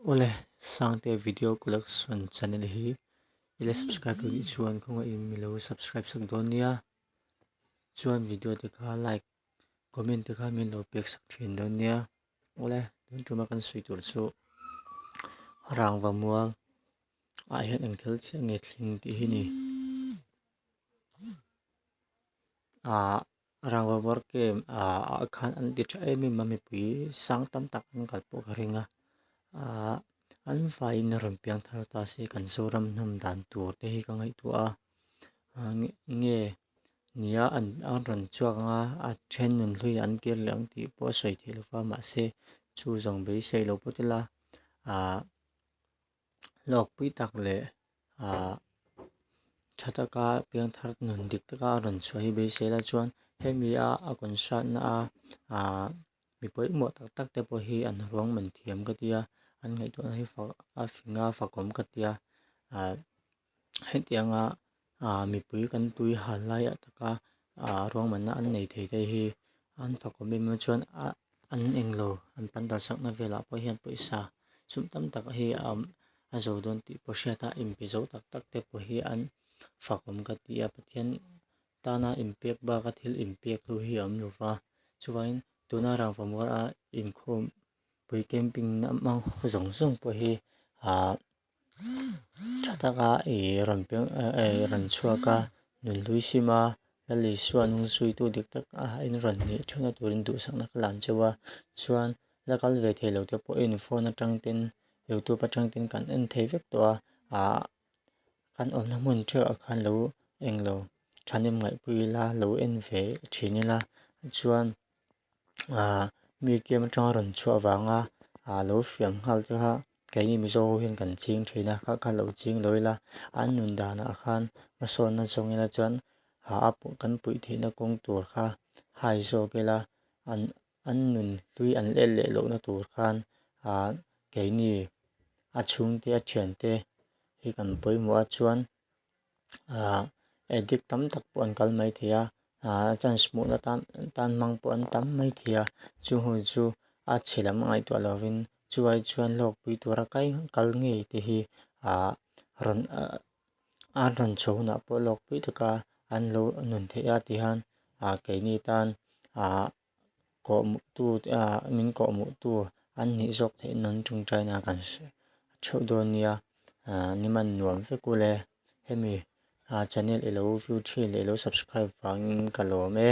Awle Sangte video collection channel hi i la subscribe lo tih chuan khawngaih in mi lo subscribe sak dawn nia chuan video te kha like comment te kha min lo pek sak thin dawn nia awle tun tuma kan sawi tur chu rangva mual ah hian engthel chiah nge thleng tih hi ni ah Rangva var kem ah khan an ti tha em em a mipui sang tam tak an kal pawh ka ring a ah an faiin a rawn piang thar ta se kan zoram hnam dan tur te hi ka ngaihtuah a ah nge nia an rawn chhuak ang a a then nun hlui ah an kir leh ang tih pawh a sawi theih loh a mahse chu zawng beisei lo pawt ila ah-- hlawkpui tak leh ah tha taka piangthar nun dik taka a rawn chhuah hi beiselah chuan hemi a a kawn hriatna a ah mi pawimawh tak tak te pawh hi an ruang man thiam ka tia an ngaihtuahna hi fak a fing a fakawm ka tia ah-- hetianga ah mipui kan tui hal laia taka ah ruangmahna an nei thei daih hi an fakawm em em a chuan ah an eng lo an pan dan sakna velah pawh hian pawisa sum tam tak hi a awm a zo dawn tih pawh a hriat a inpe zo tak tak te pawh hi an fakawm ka ti a pathian tana inpek baka thil inpek tu hi a awm lo va chuvangin tuna rangva mual a inkhawm pui camping na hmang zawng zawng pawh hi ah-- Tha taka i rawn peng i rawn chhuak a, nun hlui sim a, Lal Isua nung zuitu dik tak a in rawn hnih theuhna turin duhsakna ka la ang che va, chuan la kal ve thei lo te pawhin phone atang ten, youtube atang ten kan en thei vek tawh a, ah kan awmna hmun theuhah khan lo eng lo tha nem ngaihpui ila, lo en ve thin ila chuan. ah museum atanga rawn chhuah avanga ah lo fiam nghal che kha keini mizo ho hian kan ching thin a kha khan lo ching dawi la an nun dan ah khan hmasawnna zawng ina chuan ah a kan puih theih na kawng tur kha hai zawk ila an an nun hlui an en leh loh na tur khan ah keini a chhungte a thiante hi kan pawimawh a chuan-- ah addict tam tak pawh an kal mai thei a ah chance hmuhna tan tan hmang pawh an tam mai thei a chu hun chu a chhe lam ngaihtuah lovin chuvai chuan lawkpui tura kai kal ngei te hi ah rawn an rawn chho hunah pawh lawkpui taka an lo nun theih a tihian ah keini tan ah-- kawhmuhtu ah min kawhmuh tu an nih zawk theih nan ṭung ṭaina kan hriat ṭheuh dawn nia ahh ni man nuam vek ule hemi ah channel i lo view ṭhin leh i lo subscribe vangin ka lawm e.